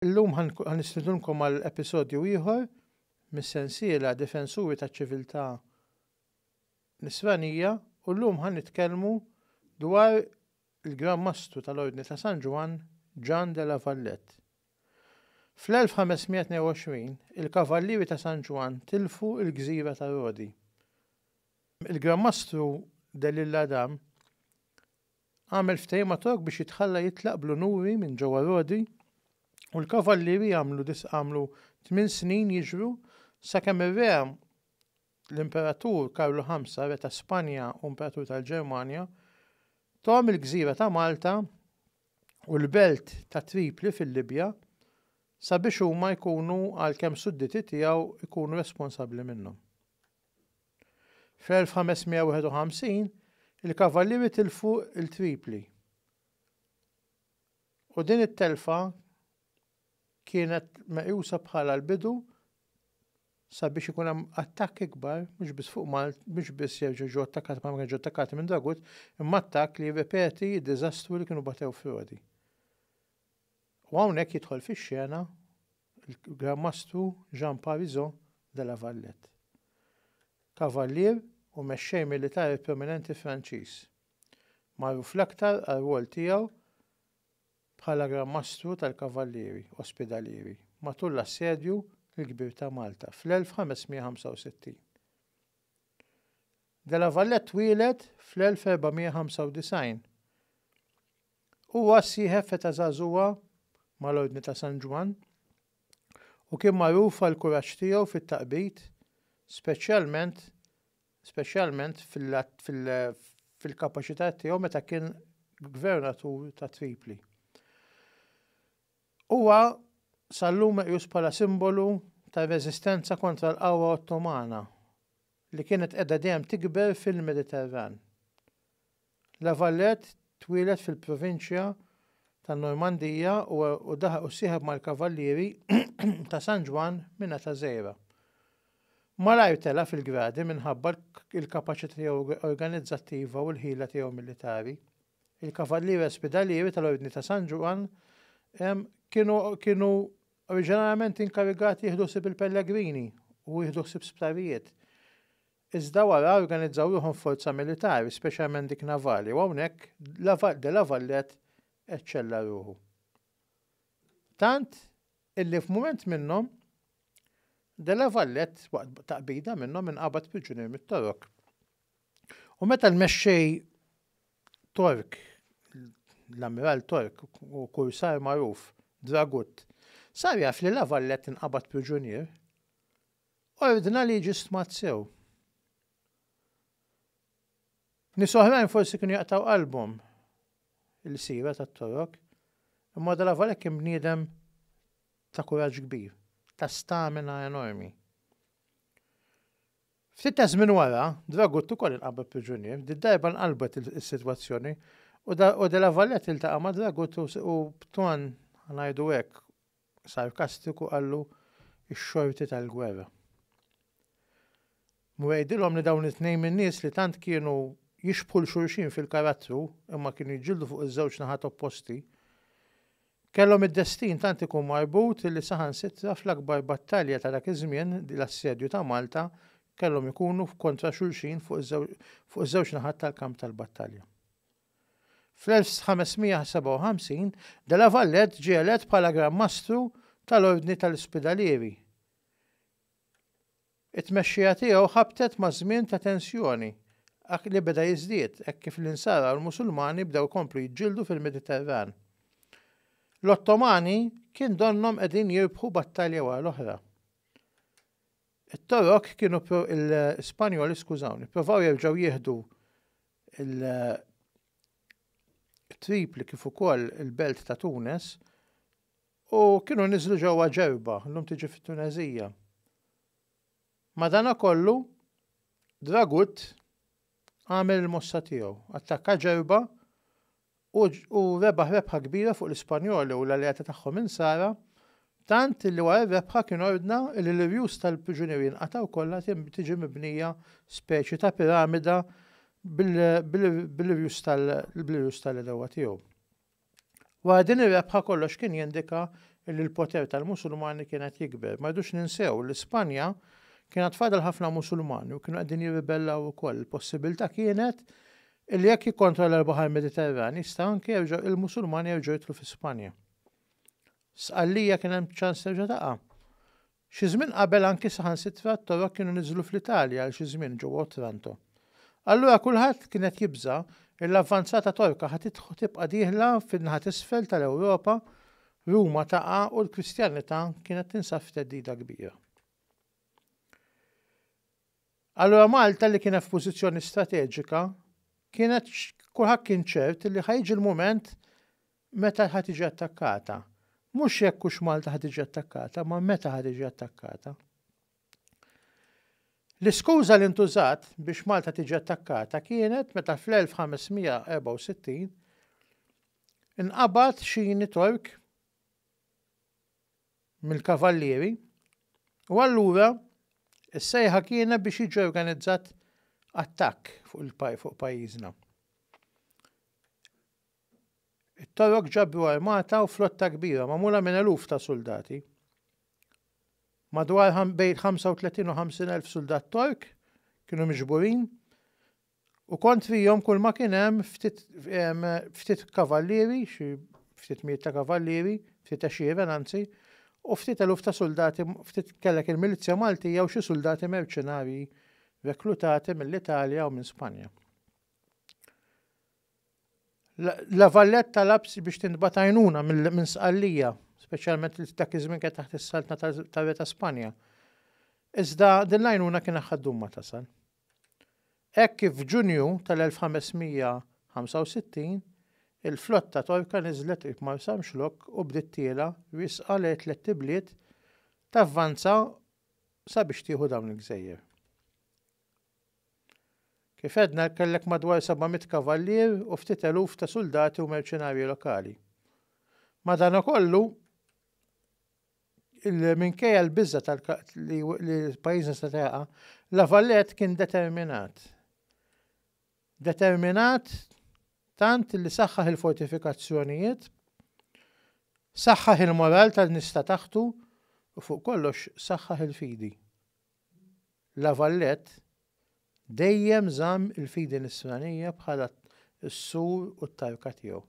Illum ħa nistidunkom għal episodju ieħor mis-sensiela Difensuri taċ-Ċiviltà Nisranija u llum ħa nitkellmu dwar il-Gran Mastru tal-Ordni ta' San Ġwann Ġann de la Vallette. Fl-1522, il-Kavallieri ta' San Ġwann tilfu l-gżira ta' Rodi. Il-Gran Mastru de l'Isle Adam għamel ftehim ma' Tork biex jitħalla jitlaq bl-unuri minn ġewwa Rodi u l-Kavallieri għamlu għamlu tmien snin jiġru sakemm ir-Re l-Imperatur Karlu Ħamsa, Re ta' Spanja u Imperatur tal-Ġermanja, tom il-gżira ta' Malta u l-belt ta' Tripli fil-Libja sabiex huma jkunu għalkemm sudditi tiegħu jkunu responsabbli minnhom. Fl-1551 il-Kavallieri tilfu il-Tripli u din it-telfa kienet meqjusa bħala l-bidu sabiex ikun hemm attakk ikbar mhux biss fuq Malt, mhux biss jerġgħu ġew attakkati bħalma kienu ġew attakkati minn Dragut, imma attakk li jirrepeti d-diżastru li kienu batew f'Rodi. U hawnhekk jidħol fix-xena l-Gran Mastru Jean Parizo de la Valette, kavallier u mexxej militari prominenti Franċiż, magħruf l-aktar għar-rwol tiegħu bħala Gran Mastru tal-Kavallieri Ospidalieri matul l-Assedju l-Kbir ta' Malta fl-1565. De la Vallette twieled fl-1495. Huwa ssieħeb f'età żagħżugħa mal-Ordni ta' San Ġwann u kien magħruf għall-kuraġġ tiegħu fit-taqbid, speċjalment speċjalment fil-kapaċità tiegħu meta kien gvernatur ta' Tripli. Huwa sal-lum meqjus bħala simbolu ta' reżistenza kontra l-qawwa Ottomana li kienet qiegħda dejjem tikber fil-Mediterran. La Valette twieled fil-provinċja tan-Normandija u ssieħeb mal-Kavallieri ta' San Ġwann minn età żgħira. Malajr tela' fil-gradi minħabba l-kapaċità tiegħu organizzattiva u l-ħila tiegħu militari. Il-Kavallieri Ospidalieri tal-Ordni ta' San Ġwann kienu oriġinarjament inkarigati jieħdu ħsieb il-pellegrini u jieħdu ħsieb sptarijiet. Iżda wara organizzaw ruħhom f'forza militari, speċjalment dik navali, u hawnhekk de la Valette eċċella ruħu. Tant illi f'mument minnhom de la Valette waqt taqbida minnhom inqabad priġunier mit-Torok. U meta l-mexxej Tork, l-ammiral Tork u kursar magħruf Dragut, sar jaf li la Valette inqabad priġunier, Ordna li jiġi stmat sew. Nies oħrajn forsi kienu jaqtgħu qalbhom il-sira tat-Torok, imma madanavolek kien bniedem ta' kuraġġ kbir, ta' stamina enormi. Ftit ta' żmien wara, Dragut ukoll inqabad priġunier, did-darba nqalbet is-sitwazzjoni u Delavallet iltaqa' ma' Dragut u b'ton, ngħidu hekk, sarkastiku qallu x-xorti tal-gwerra. Mhu jgħidilhom li dawn it-tnejn min-nies li tant kienu jixbħu 'l xulxin fil-karattru imma kienu jġildu fuq iż-żewġ naħat opposti, kellhom id-destin tant ikun marbut li saħansitra fl-akbar battalja ta' dak iż-żmien, l-Assedju ta' Malta, kellhom ikunu kontra xulxin fuq iż-żewġ naħat tal-kamp tal-battalja. Fl-1557, de la Valette ġie elett bħala Gran Mastru tal-Ordni tal-Ispidalieri. It-tmexxija tiegħu ħabtet ma' żmien ta' tensjoni li beda jiżdied hekk kif l-Insara u l-Musulmani bdew ikomplu jiġġieldu fil-Mediterran. L-Ottomani kien donnhom qegħdin jirbħu battalja wara l-oħra. It-Torok kienu l-Spanjoli skużawni, provaw jerġgħu jieħdu il-Tripli kif ukoll il-belt ta' Tunes u kienu niżlu ġewwa Ġerba, llum tiġi fit-Tuneżija. Madanakollu, Dragut għamel il-mossa tiegħu, attakka Ġerba u rebaħ rebħa kbira fuq l-Ispanjoli u l-alleati tagħhom Insara, tant li wara r-rebħa kien ordna li l-irjus tal-priġunieri jinqatgħu kollha tiġi mibnija speċi ta' piramida bl-irjus tal-għedewwa tiegħu. Wara din ir-rebħa kollox kien jindika li l-poter tal-Musulmani kien qed jikber. Ma rridux ninsew li Spanja kien għad fadal ħafna Musulmani u kienu qegħdin jirribellaw ukoll. Il-possibilità kienet Illi hekk jikkontrolla l-Baħar Mediterran jista' anke jerġa' il-Musulmani jerġgħu jidħlu fi Spanja. Sqallija kien hemm ċans terġa' taqa'. Xi żmien qabel anki saħansitra t-Torok kienu niżlu fl-Italja għal xi żmien ġewwa Otranto. Allura kulħadd kien qed jibża' li l-avvanzata Torka ħa tibqa' dieħla fin-naħa t'isfel tal-Ewropa, Ruma taqa' u l-Kristjanità kienet tinsab f'theddida kbira. Allura Malta li kienet f'pożizzjoni strateġika kienet kulħadd kien ċert li ħa jiġi l-mument meta ħa tiġi attakkata. Mhux jekk hux Malta ħa tiġi attakkata, ma meta ħa tiġi attakkata. L-iskuża li ntużat biex Malta tiġi attakkata kienet meta fl-1564 inqabad xini Tork mill-kavallieri, u allura s-sejħa kienet biex jiġi organizzat attakk fuq pajjiżna. It-Torok ġabru armata u flotta kbira magħmula minn eluf ta' suldati. Madwar bejn 35 u 50 elf suldat Tork kienu miġburin U kont fihom kulma kien hemm ftit kavallieri, xi ftit mijiet ta' kavallieri, ftit għexieren anzi, u ftit eluf ta' suldati, ftit kellek il-milizzja Maltija u xi suldati merċenarji reklutati mill-Italja u minn Spanja. La Valette talab biex tintbagħat għajnuna minn Sqallija, speċjalment li dak iż-żmien kien taħt is-saltna tar-Re ta' Spanja. Iżda din l-għajnuna kien aħħad dum ma tasal. Hekk kif f'Ġunju tal-1565, il-flotta Torka niżlet qrib Marsamxlokk u bdiet tiela' riesqa lejn tliet ibliet tavvanza sabiex tieħu dawn il-gżejjer. Kif għedna kellek madwar 700 kavallier u ftit eluf ta' suldati u merċenarji lokali. Madankollu, li minkejja l-biża' li pajjiżna se jaqa', La Valette kien determinat. Determinat tant li saħħaħ il-fortifikazzjonijiet, saħħaħ il-moral tan-nies ta' taħtu u fuq kollox saħħaħ il-fidi. La Valette dejjem żamm il-fidi nisranija bħala s-sur u t-tarka tiegħu.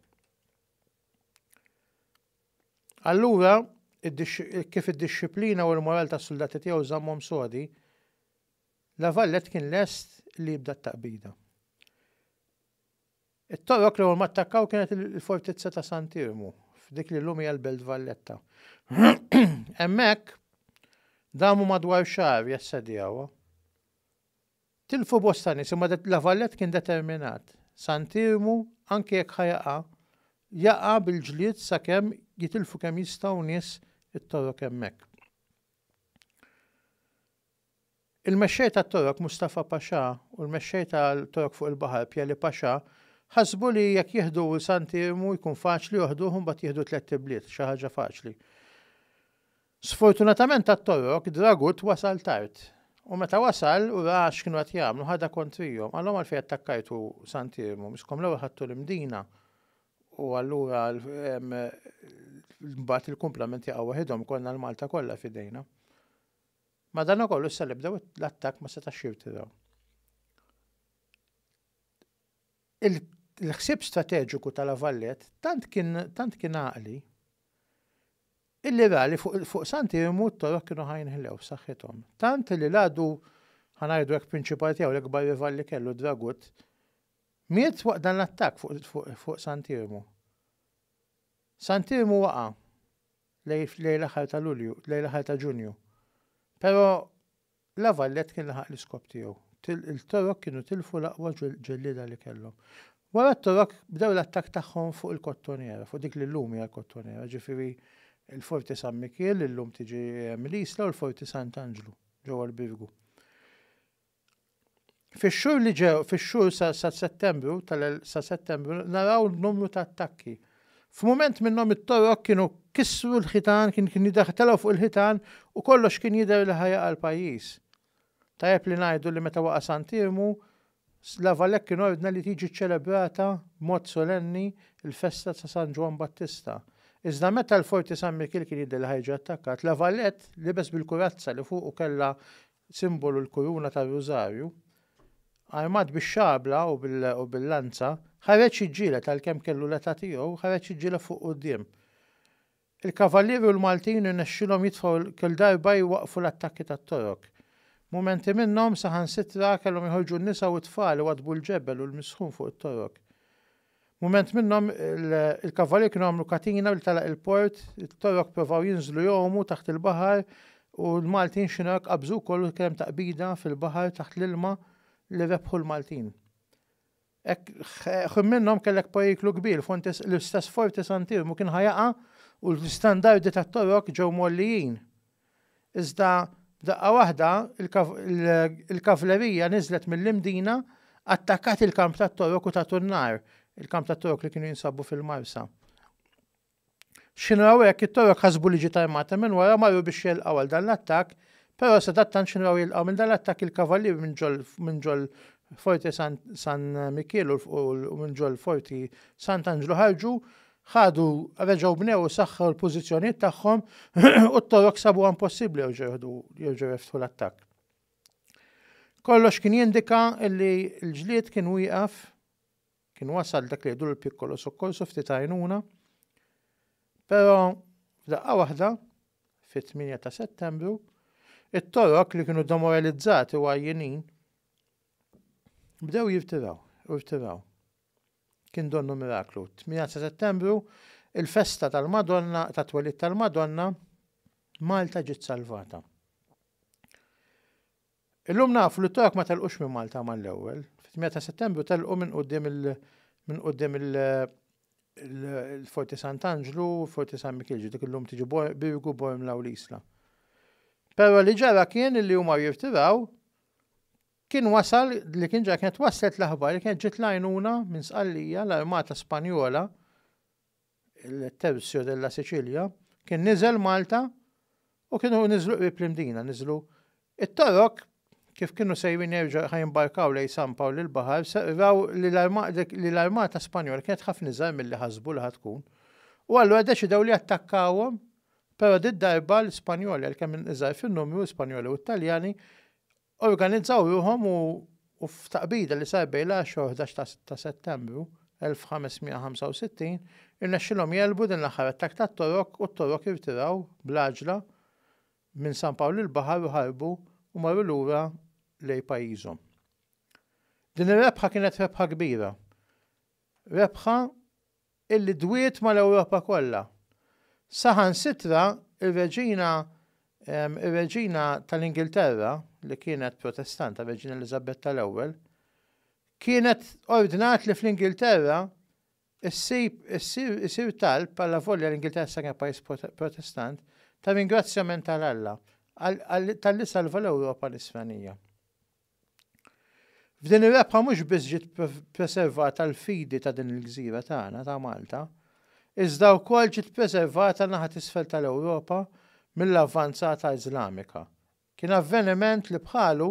Allura, kif id-dixxiplina u l-moral tas-suldati tiegħu żammhom sodi, La Valette kien lest li jibda t-taqbida. It-Torok l-ewwel ma attakkaw kienet il-fortizza ta' Sant'Iermu, f'dik li llum hija l-Belt Valletta. Hemmhekk, damu madwar xahar jassedjawha. Tilfu bosta nies imma La Valette kien determinat. Sant'Iermu anke jekk ħa jaqa', jaqa' bil-ġlied sakemm jitilfu kemm jistgħu nies it-Torok hemmhekk. Il-mexxej tat-Torok Mustafa Pasha u l-mexxej tal-Torok fuq il-baħar Pieli Pasha ħasbu li jekk jieħdu Sant'Iermu jkun faċli joħduh u mbagħad jieħdu tlett ibliet, xi ħaġa faċli. Sfortunatament għat-Torok, Dragut wasal tard. U meta wasal u ra x'kienu qed jagħmlu, ħadha kontrihom. Qalhom għalfejn attakkajtu Sant'Iermu, miskom l-ewwel ħadtu l-Imdina u allura mbagħad il-kumplament jaqgħu waħidhom konna l-Malta kollha f'idejna. Madankollu issa li bdew l-attakk ma setax jirtiraw. Il-ħsieb strateġiku tal-Avallet tant kien tant kien għaqli Illi ra li fuq San Tirmu t-toroq kienu ħajnħlew f'saħħithom. Tant li l-għadu, ħa ngħidu hekk prinċipali tiegħu, l-ikbar rival li kellu, Dragut, miet waqt dan l-attakk fuq San Tirmu. San Tirmu waqa' lejn l-aħħar ta' Lulju, lejn l-aħħar ta' Ġunju. Però La Valette kien laħaq l-iskop tiegħu. Il-Torok kienu tilfu l-aqwa ġellieda li kellhom. Wara t-Torok bdew l-attakk tagħhom fuq il-Kottonera, fuq dik li llum hija l-Kottonera, ġifieri l-Forti San Mikiel li llum tiġi Mill-Isla u l-Forti Sant'Anġlu ġewwa l-Birgu. Fix-xhur li ġew, fix-xhur sa, sa Settembru, tal, sa Settembru, naraw numru ta' attakki. F'mument minnhom it-torok kienu kissru l-ħitan, kien kien jidher telgħu fuq il-ħitan u kollox kien jidher li ħa jaqa' l-pajjiż. Tajjeb li ngħidu li meta waqa' Sant'Iermu, s, La Valette kien ordna li tiġi ċċelebrata b'mod solenni l-festa ta' San Ġwann Battista. Iżda meta l-Forti San Mikil kien jidher li ħa jiġi attakkat, La Valette libes bil-kurazza li fuqu kellha simbolu l-kuruna tar-Rużarju, armat bix-xabla u bil-lanza, ħareġ jiġġieled għalkemm kellu l-età tiegħu, ħareġ jiġġieled fuq quddiem. Il-Kavallieri u l-Maltin irnexxielhom jitfgħu kull darba jwaqqfu l-attakki tat-Torok. Mumenti minnhom, saħansitra, kellhom joħorġu n-nisa u t-tfal iwaddbu l-ġebel u l-misħun fuq it-Torok. Mument minnhom il-kavalier kienu għamlu katina billi telaq il-port, it-Torok provaw jinżlu jgħumu taħt il-baħar u l-Maltin Chinook qabżu wkoll u kien hemm taqbida fil-baħar taħt l-ilma li rebħu l-Maltin. Hekk minnhom kellek periklu kbir, l-istess Forti Santirmu kien ħa jaqa' u l-istandardi tat-Torok ġew mgħollijin. Iżda f'daqqa waħda l-kavlerija niżlet mill-Imdina, attakkat il-kamp tat-Torok u tatu n-nar, il-kamp tat-Torok li kienu jinsabu fil-Marsa. X'kienu raw hekk, it-Torok ħasbu li ġiet armata minn wara u marru biex jegħlqgħu għal dan l-attakk, però sadattant x'kienu raw jilqgħu minn dan l-attakk il-kavallieri minn ġol Forte San Mikiel u minn ġol Forti Sant'Anġlu ħarġu ħadu, reġgħu bnew u saħħew il-pożizzjonijiet tagħhom u t-Torok sabuha impossibbli jerġgħu jerġgħu jeftħu l-attakk. Kollox kien jindika li l-ġlied kien wieqaf, kien wasal dak li jgħidu l-pikkolo sokkorsu ftit għajnuna, però f'daqqa waħda fit-8 ta' Settembru, it-Torok li kienu demoralizzati u għajjinin bdew jirtiraw, jirtiraw. Kien donnu miraklu. 8 ta' Settembru, il-festa tal-Madonna, tat-twelid tal-Madonna, Malta ġiet salvata. Illum nafu li t-Torok ma telqux minn Malta mal-ewwel. Fit-8 ta' Settembru telqu minn quddiem il- minn quddiem il- il-Forti Sant'Anġlu, Forti San Mikil, ġidik illum tiġi Birgu, Bormla u l-Isla. Però li ġara kien li huma jirtiraw Kien wasal li kien ġa kienet waslet l-aħbar li kienet ġiet l-għajnuna minn Sqallija l-armata Spanjola il-Tercio della Sicilia kien niżel Malta u kienu niżlu qrib l-Imdina, niżlu it-Torok kif kienu sejrin jerġa' ħajimbarkaw lejn San Pawl il-baħar, raw li l-armata Spanjola kienet ħafna iżgħar milli ħasbu li tkun. U allura deċidew li attakkawhom, però did-darba l-Spanjoli għalkemm iżgħar fin-numru, Spanjoli u Italjani, Organizzaw ruħhom u f'taqbida li sar bejn l-għaxra u ħdax ta' Settembru 1565, irnexxilhom jegħlbu din l-aħħar attakk tat-Torok u t-Torok irtiraw bl-għaġla minn San Pawl il-Baħar u ħarbu u marru lura lejn pajjiżhom. Din ir-rebħa kienet rebħa kbira. Rebħa illi dwiet mal-Ewropa kollha. Saħansitra r-Reġina r-Reġina tal-Ingilterra, li kienet Protestanta, r-Reġina Eliżabetta l-Ewwel, kienet ordnat li fl-Ingilterra ssib isir talb alla volja l-Ingilterra sa kienet pajjiż Protestant ta' ringrazzjament għal Alla talli salva l-Ewropa nisranija. F'din ir-rebħa mhux biss ġiet preservata l-fidi ta' din il-gżira tagħna ta' Malta, iżda wkoll ġiet preservata naħa t'isfel tal-Ewropa mill-avvanzata Iżlamika. Kien avveniment li bħalu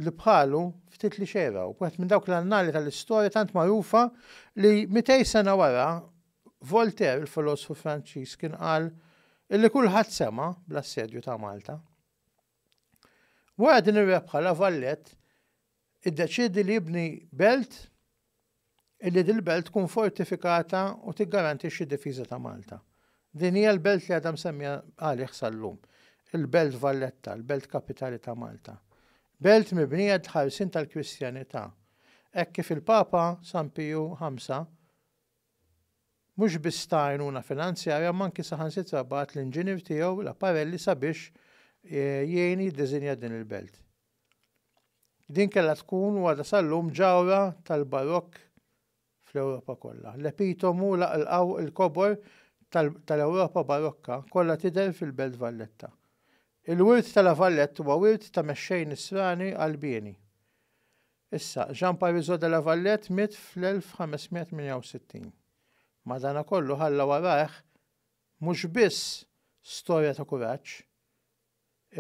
li bħalu ftit li xergħu, b'wieħed minn dawk l-annali tal-istorja tant magħrufa li mitej sena wara Voltaire, il-filosfu Franċiż kien qal illi kulħadd sema' bl-assedju ta' Malta. Wara din ir-rebħa La Valette iddeċiedi li jibni belt illi dil-belt tkun fortifikata u tiggarantixxi d-difiża ta' Malta. Din hija l-belt li għadha msemmija għalih sal-lum, il-Belt Valletta, l-belt kapitali ta' Malta. Belt mibnija d-ħarsien tal-Kristjanità, hekk kif il-Papa San Piju Ħamsa mhux biss ta għajnuna finanzjarja imma anki saħansitra bagħat l-inġinier tiegħu Laparelli sabiex jgħin jiddiżinja din il-belt. Din kellha tkun u għadha sal-lum ġawhra tal-Barokk fl-Ewropa kollha. L-epitomu laqlqaw il-kobor tal-Ewropa Barokka kollha tidher fil-Belt Valletta. Il-wirt ta' La Valette huwa wirt ta' mexxej nisrani Qalbieni. Issa, Jean Parisot de la Valette miet fl-1568. Madanakollu ħalla warajh mhux biss storja ta' kuraġġ,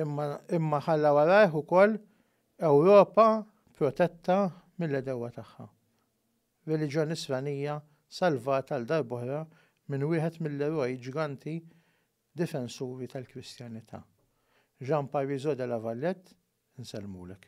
imma imma ħalla warajh ukoll Ewropa protetta mill-għedewwa tagħha. Reliġjon Nisranija salvat għal darb'oħra minn wieħed mill-eroj ġganti Difensuri tal-Kristjanità, Jean Parisot de la Valette, insellmulek.